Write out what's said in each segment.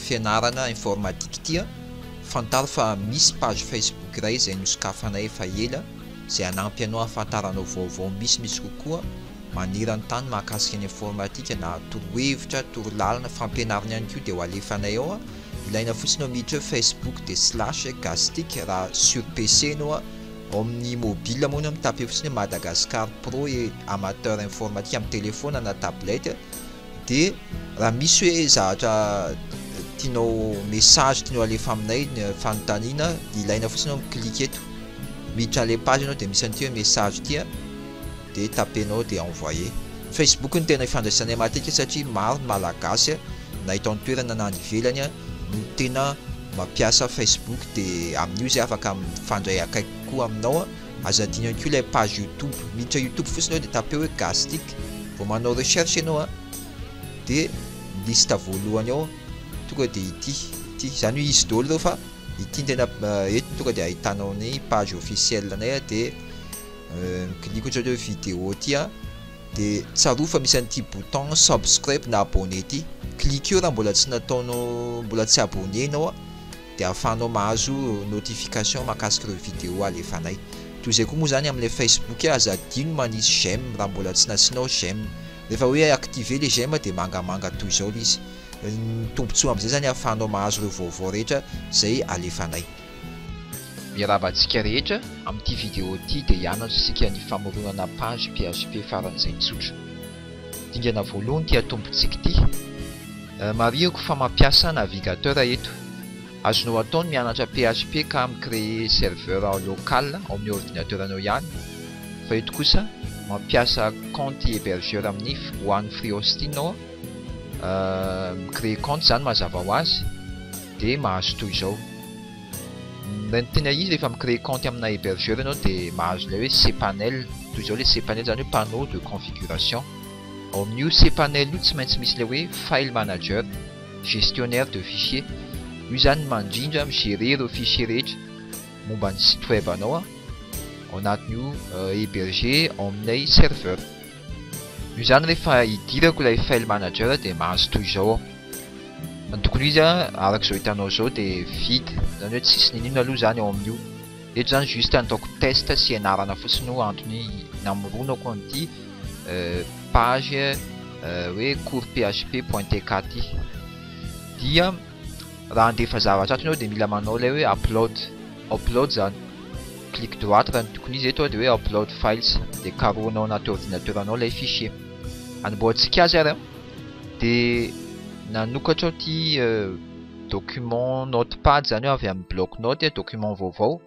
fianarana informatique ity an, fantaro fa misy page facebook iray izay nosokafanay efa ela izay hanampy anao hahafantaranao vaovao misimisy kokoa maneran-tany mahakasika ny informatika na torohevitra, torolalana, fampianarana ihany koa dia ho alefanay ao a! ilaina fotsiny ao miditra hoe facebook dia slash Gastec raha sur PC enao a! ao amin'ny mobile moa enao mitape fotsiny hoe Madagascar Pro et Amateur Informatique amin'ny telephone na tablette dia raha misy hoe zavatra tianao message tianao alefa aminay fanontaniana dia ilaina fotsiny enao mi-clique eto miditra an'ilay page enao dia misy an'ity hoe message ity a! de tapenao de envoyer. Facebook no tena ifandraisanay matetika satria maro ny Malagasy na eto an-toerana na any ivelany no tena mampiasa Facebook de amin'io zay afaka mifandray akaiky kokoa aminao. Aza adino ihany koa ilay page YouTube, miditra YouTube fotsiny ao de tapeo hoe Gastric, vao manao recherche ianao a de ny liste voalohany ao tonga de ity, ity zany hoe izy daholo ireo fa ity no tena eto tonga de ahitanao ny page officielle-nay de. Mikiliko otrany hoe vidéo ty a, de tsarovy fa misy an'ity bouton subscribe na abonné ty, klikeo raha mbola tsy nataonao mbola tsy abonné ianao a, de ahafahanao mahazo notification mahakasika ireo vidéo alefanay, toy izay koa moa zany amin'ilay Facebook a, aza adino manisy j'aime raha mbola tsy nasianao j'aime, rehefa hoe activer le j'aime de mangamanga toy izao le izy, ny tombotsoa amin'izay zany ahafahanao mahazo ireo vaovao rehetra izay alefanay. Miarahaba antsika rehetra amin'ity vidéo ity dia hianatra isika ny famoronana page php faran'izay tsotra. Dingana voalohany ity atombontsika ity. Marihiko fa mampiasa navigateur eto. Azonao atao ny mianatra php ka mi-creer serveur local ao amin'ny ordinateur anao ihany fa eto kosa mampiasa compte hebergeur amin'ny one free hosting aho. Mi-creer compte izany mazava ho azy. dia mahazo toy izao ny tena izy rehefa mi-créer kaonty amina hébergeur ianao dia mahazo ilay hoe cpanel toy izao ilay cpanel izany hoe panneau de configuration ao amin'io cpanel io tsy maintsy misy ilay hoe file manager gestionnaire de fichier io izany mandrindra mi-gerer ireo fichier rehetra momba ny site web anao ao anatin'io héberger ao amin'ilay serveur Noho izany rehefa idirako ilay file manager dia mahazo toy izao aho. Ny tokony ho izy araka izao hitanao izao dia vide, izany hoe tsisy n'inon'inona aloha izany ao amin'io. Eto izany juste nataoko test sy ianarana fotsiny no antony namoronako an'ity page hoe cours php.tk ity. Dia Raha handefa zavatra ato ianao dia mila manao ilay hoe upload, upload izany. Clic droite raha ny tokony izy eto dia hoe upload files dia karohina ao anaty ordinateur anao ilay fichier. Anombohantsika azy ary an. Dia nanokatra aho ity document notepad izany aho avy amin'ny bloc note, document vaovao.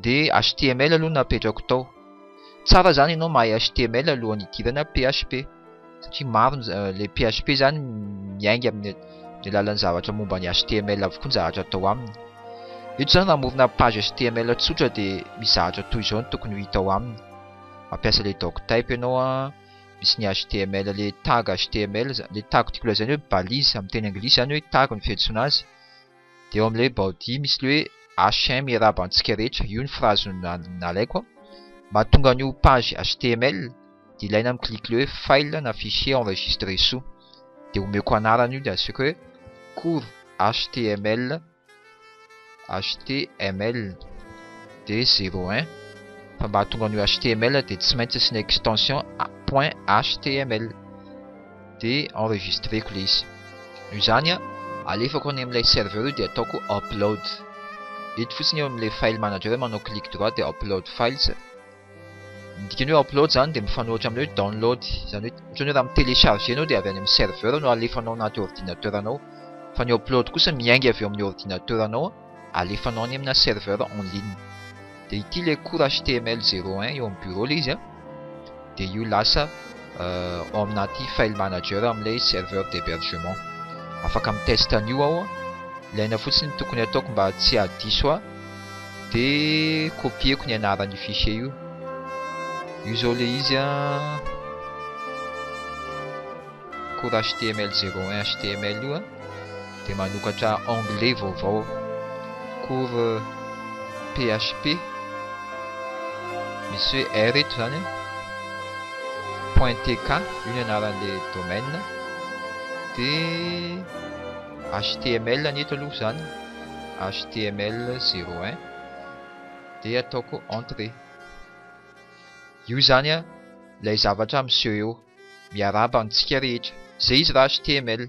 de html aloha no apetrako tao tsara zany ianao mahay html alohan'ny hidirana php satria maro ny za- le php zany miainga amin'ny ny alalan'ny zavatra momba ny html avokoa ny zavatra atao aminy eto zany raha hamorona page html tsotra de misy zavatra toy izao no tokony ho hita ao aminy mampiasa le doctype ianao an misy ny html le tag html za- le tag tiako lazaina hoe balise amin'ny teny anglisy zany hoe tag no fiantsoana azy dia eo amin'ilay baoty misy ilay hoe HM iarahaba antsika rehetra, io ny frazy nalaiko an, mahatonga an'io page html dia ilaina mi clique ilay hoe file na fichier enregistré soa, dia omeko anarana io dia asiko hoe cours html html dia zero un fa mba hahatonga an'io html dia tsy maintsy asiana extension point html. dia enregistreko ilay izy. Noho izany, alefako any amin'ilay serveur io dia ataoko upload. Eto fotsiny eo amin'ilay file manager eo manao clic droit dia upload files. Ny dikan'ny hoe upload izany dia mifanohitra amin'ny hoe download. Izany hoe ohatran'ny hoe raha mi-télécharger ianao dia avy any amin'ny serveur no alefanao anaty ordinateur-nao fa ny upload kosa miainga avy eo amin'ny ordinateur-nao. alefanao any amina serveur en ligne dia ity ilay cours html 01 eo amin'ny bureau ilay izy a dia io lasa ao amin'ity file manager amin'ilay serveur d'hébergement afaka mitest an'io aho a ilaina fotsiny tokony ataoko mba tsy hadiso aho dia copieko ny anaran'io fichier io io izao ilay izy a cours html 01 html io a dia manokatra onglet vaovao cours php misy hoe r eto zany point tk io ny anaran'le domaine de html ny eto aloha zany html 01 de ataoko entrée io zany a ilay zavatra miseho eo Miarahaba antsika rehetra. Zay izy ra html.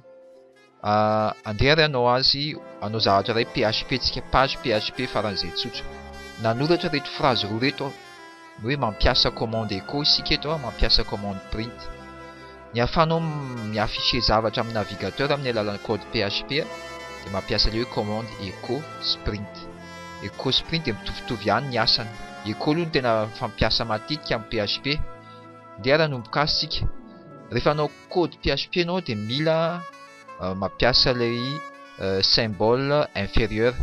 Ah, andeha ary hanao azy, hanao zavatra iray php tsika, page php faran'izay tsotra. Nanoratra ireto phrase roa ireto aho. Ny hoe mampiasa commande echo isika eto an, mampiasa commande print. Ny ahafahanao mi-afficher zavatra amin'ny navigateur amin'ny alalan'ny code php dia mampiasa ilay hoe commande echo sy print. Echo sy print dia mitovitovy ihany ny asany. Echo aloha no tena fampiasa matetika amin'ny php. Ndeha nanomboka asa isika. Rehefa hanao code PHP ianao dia mila euh, mampiasa ilay euh, symbole inférieur.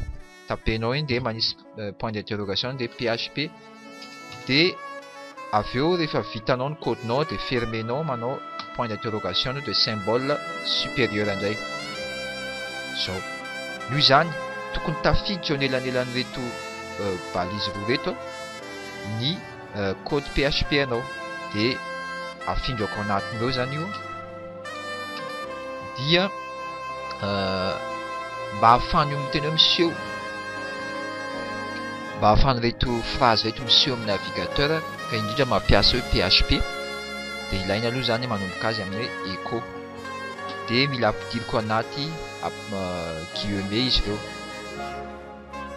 Tapenao iny dia manisy euh, point d'interrogation dia PHP. Dia avy eo rehefa vitanao ny code-nao dia fermenao manao point d'interrogation dia symbole supérieur indray. Zao. Noho izany, tokony tafiditra eo anelanelan'ireto euh, balise roa reto ny code php anao de afingako anatiny eo zany io dia mba hafany io miteny eo miseho mba hafany reto phrase reto miseho amin'ny navigateur ka indrindra mampiasa eo php de ilaina aloha zany manomboka azy amin'ny echo de mila ampidiriko anaty guillemets izy ireo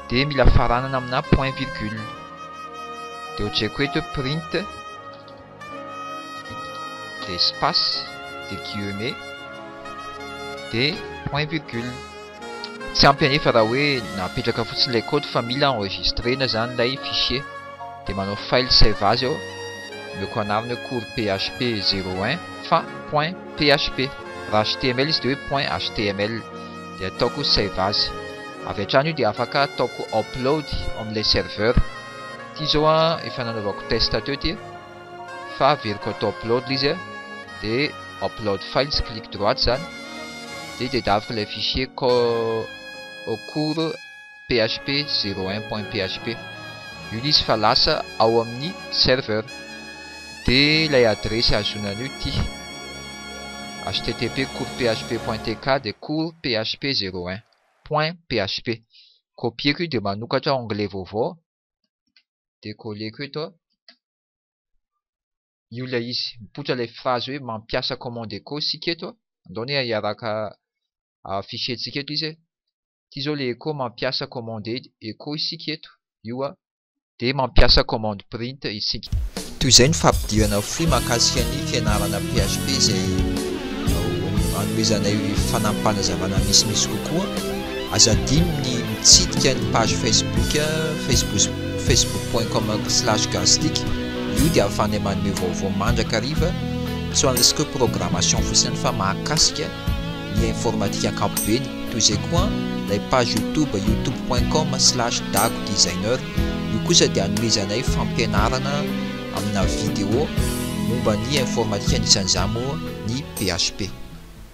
dia mila faranana amina point virgule dia hotreko eto hoe print dia espace dia guillemets dia point virgule tsy ampy anefa raha hoe napetraka fotsiny ilay code fa mila enregistrena izany ilay fichier dia manao file save azy eo omeko anarana hoe cours php 01 fa point php raha html izy dia hoe point html dia ataoko save as avy hatrany io dia afaka ataoko upload ao amin'ilay serveur ity izao a efa nanaovako test teo ity fa averiko atao upload ilay izy a dia upload files clic droite izany dia tedaviko ilay fichier co au cours php zero un point php io izy fa lasa ao amin'ny serveur de ilay adiresy ahazoana an'io ity http cours php point tk de cours php zero un point php copieko io de manokatra onglet vaovao de colleko eto io ilay izy mipoitra ilay phrase hoe mampiasa commande echo isika eto andao anie hiaraka fichier-tsika eto izy ity zao le echo mampiasa commande echo isika eto io a de mampiasa commande print isika. Toy izay ny fampidirana fohy mahakasika ny fianarana php izay hanomezanay fanampim-panazavana misimisy kokoa. Aza adino ny mitsidika ny page facebook facebook facebook point com slash gastec io dia ahafahanay manome vaovao mandrakariva tsy ho an'ny resaka hoe programmation fotsiny fa mahakasika ny informatika ankapobeny. Toy izay koa ilay page youtube youtube point com slash dago designer, io kosa dia anomezanay fampianarana amina video momba ny informatika anisan'izany moa ny php.